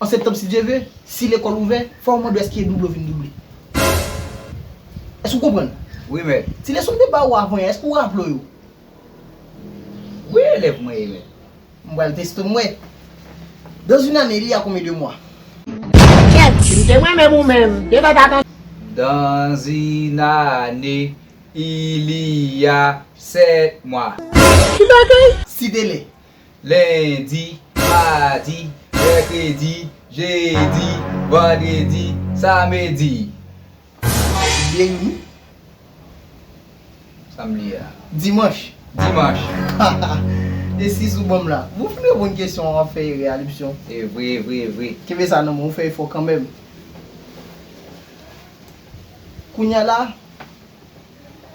An septanm si Dye ve, si lekòl ouvè, fò mande èske e double ou vin double. Èske ou konprann? Wi mèt. Ti leson m te ba ou avan yè, èske ou raple ou yo? Wi elèv mwen ye mèt. M pral teste w m wè. Dans une année il y a combien de mois? Kèts! Se mwen menm ou menm. Te fè ta tande. Dans une année il y a sept mois. Ki bagay? Site lè. Lendi, madi, mèkredi, jedi, vandredi, samedi. Jedi, dimanch. Eskiz ou banm la. Ou fin reponn kesyon an wap fè erè a li psyon ou. Evre evre evre. Kenbe sa nan men ou fè efò kanmenm. Kounya la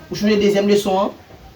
ou chanje dezyèm leson an.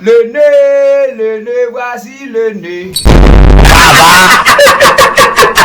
Le ne le ne vwazile ne. Sa va?